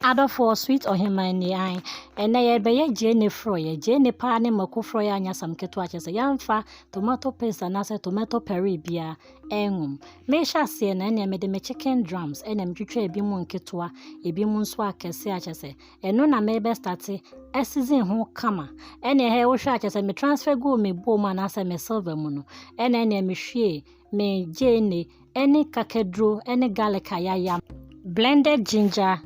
Adɔfoɔ sweet ɔheman ni ae. Ɛnɛ yɛbɛyɛ gyeene forɔeɛ. Gyeene paa ne mako forɔeɛ anyɛ asɛm ketewa kyerɛ sɛ yɛmfa tomato paste anaasɛ tomato puree biara ɛnwom. Mehyɛ aseɛ no ɛnneɛ mede me chicken drums ɛna metwitwa ebi mu nketewa ebi mu nso akɛse akyɛ sɛ ɛno na mebɛ starte ɛsizin ho kama. Ɛnneɛ hɛ wohwɛ akyɛ sɛ me transfer guu me bowl mu anaasɛ me silver mu no ɛna ɛnneɛ mehwie me gyeene ne kakaduro ne garlic a yɛayam. Blended ginger,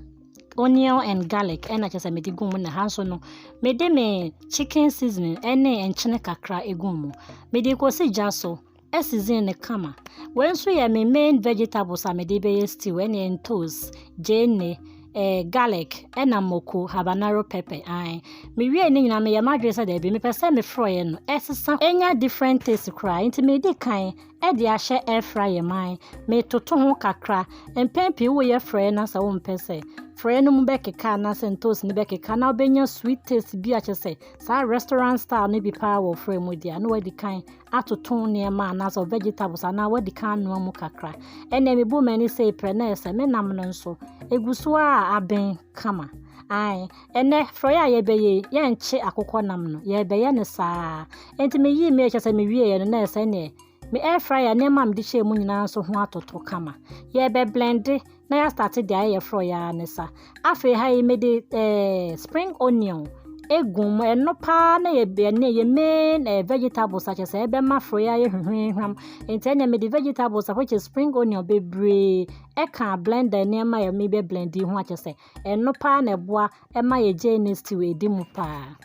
onion and garlic na kyerɛ sɛ mede gu mu na ha nso no mede me chicken seasoning ne nkyene kakra gu mu. Mede kɔsi gya so season no kama. Wei nso yɛ me main vegetables a mede bɛyɛ stew ɛne ntos, gyeene, eh, garlic ɛna moko habanero pepper an mewie ne nyinaa meyɛ m'adwene sɛ daabi mepɛ sɛ mefrɔeɛ no ɛsesa ɛnya different taste koraa nti medi kan de ahyɛ air fryer mu an metoto ho kakra mpɛn pii woyɛ frɛɛ na sɛ wompɛ sɛ frɛɛ no mu bɛkeka anaasɛ ntoos no bɛkeka na wobɛnya sweet taste bi akyɛ sɛ saa restaurant style no bi paa wɔ frɛ mu deɛ na wadi kan atoto nneɛma anaasɛ vegetables anaa wadi kan anoa mu kakra ɛnna mebu m'ani sɛ prɛ na ɛsɛ me nam no nso ɛgu so a abɛn kama. Ae, ɛnɛ frɔeɛ a yɛbɛyɛ yi, yɛnkye akokɔ nam no, yɛbɛyɛ no saa. Enti meyii me kyɛ sɛ mewieɛ no, na ɛsɛ neɛ me air fryer nneɛma a mede hyɛɛ mu nyinaa nso ho atoto kama. Yɛbɛblende na yɛastate deɛ ayɛ frɔeɛ ara ne sa. Afei ha yi mede eh, spring onion egu mu ɛno paa na yɛ ɛne yɛ main eh, vegetables akyɛ sɛ ɛbɛma frɔeɛ ayɛ hwehwehwam. Enti ɛnna mede vegetables a which is spring onion bebree ɛka blender nneɛma a yɛde bɛ blend yi ho a, kyerɛ sɛ ɛno paa na ɛboa ɛma yɛ gyeene stew ɛdi mu paa.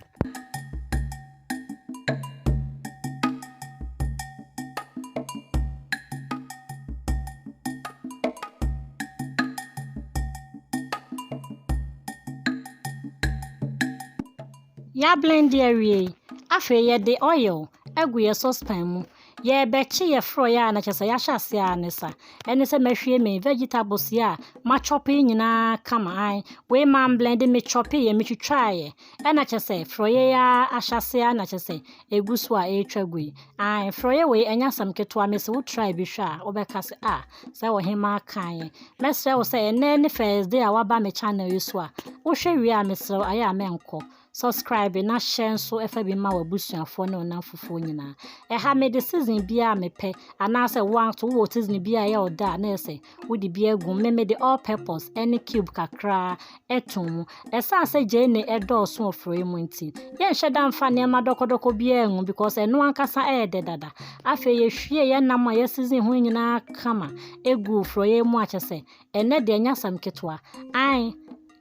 Yɛablende awie yi, afei yɛde oil agu yɛn saucepan mu. Yɛrebɛkye yɛ frɔeɛ a na kyerɛ sɛ yɛahyɛ aseɛ ara ne sa. Ɛne sɛ mɛhwie me vegetables yi a machɔpe yi nyinaa kama an. Wei mamblende, mechɔpeeɛ, metwitwaeɛ. Ɛna kyerɛ sɛ frɔeɛ yi ara ahyɛ aseɛ ara na kyerɛ sɛ ɛgu so a ɛretwa gu yi. An, frɔeɛ wei ɛnyɛ asɛm ketewa. Mese wo try bi hwɛ a wobɛka sɛ ah sɛ ɔhemaa kaeɛ. Mɛsrɛ wo sɛ ɛnnɛ ne Thursday a woaba me channel yi so a, wohwɛ wie a mesrɛ wo ayɛ a mɛnkɔ. Subscribe na share nso fa bi ma w'abusuafoɔ ne wo nnamfofoɔ nyinaa. Ɛha mede season biara a mepɛ anaasɛ wo nso wowɔ season bi a ɛyɛ ɔdɔ a na ɛsɛ wode bi agu me mede all purpose ne cube kakraa ɛto mu. Ɛsan sɛ gyeene ɛdɔɔso wɔ frɛ mu nti yɛnhyɛ da mfa nneɛma dɔkɔdɔkɔ biara ngu because ɛno ankasa ɛyɛ dɛ dada. Afei yɛhwie yɛn nam a yɛ season ho nyinaa kama ɛgu frɛ mu akyɛ sɛ ɛnɛ deɛ ɛnyɛ asɛm ketewa. Ae.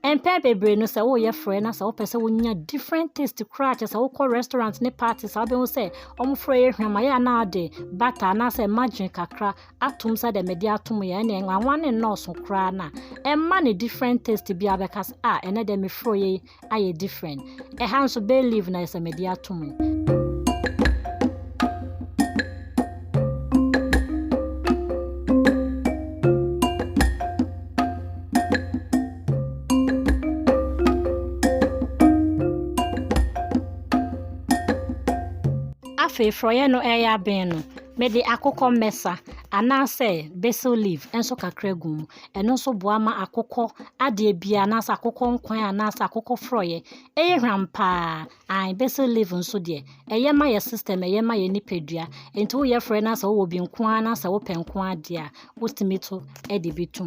Mpɛn bebree no sɛ woyɛ frɛ na sɛ wopɛ sɛ wonya different taste koraa kyɛ sɛ wokɔ restaurant ne party saa wobɛhu sɛ wɔn frɛ yɛ hwam ayɛ anaa ɔde bata anaasɛ margarine kakra atom sɛ dɛ mede atom yɛ ɛne nwanwa ne nnɔɔso koraa na ɛma ne different taste bi abɛka sɛ a ɛnɛ dɛ mefrɛ yɛ ayɛ different Ɛha nso bay leaf na ɛsɛ mede ato mu. afei frɔyɛ no ɛyɛ abɛn no mede akokɔ mmɛsa anaasɛ basil leaf nso kakra gu mu Ɛno nso boa ma akokɔ adeɛ biara anaasɛ akokɔ nkwan anaasɛ akokɔ forɔeɛ yɛ hwam paa. Ae basil leaf nso deɛ, ɛyɛ ma yɛ system, ɛyɛ ma yɛ nipadua. Enti woyɛ forɔeɛ na sɛ wowɔ bi nko ara na sɛ wopɛ nko ara deɛ a, wotumi to de bi tom.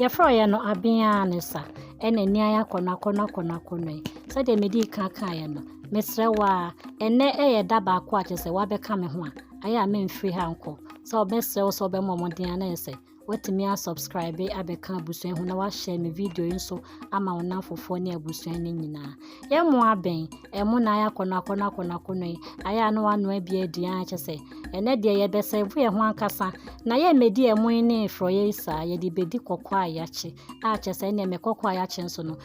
Yɛfrɛ yɛ no abeaa ne sa ɛna ani ayɛ akɔnɔ akɔnɔ akɔnɔ akɔnɔ yi sɛdeɛ medi kan kaeɛ no mesrɛ wo a ɛnnɛ yɛ da baako a kyerɛ sɛ woabɛka me ho a ɛyɛ a memfiri ha nkɔ sɛ wobɛsrɛ wo sɛ wobɛmmɔ mmɔden a na ɛyɛ sɛ Watumi a subscribe abɛka abusua ho na wahyɛ me video yi nso ama wo namfofoɔ ne abusua no nyinaa yɛ mo abɛn ɛmo na ayɛ akɔnɔ akɔnɔ akɔnɔ akɔnɔ yi ayɛ ano ano abi adi a kyɛ sɛ ɛnɛ deɛ yɛbɛsɛ bo yɛ ho ankasa na yɛ mmɛdi ɛmo yi ne frɔyɛ yi saa yɛde bɛdi kɔkɔ a yɛakye a kyɛ sɛ ɛnɛ mɛ kɔkɔ a yɛakye nso no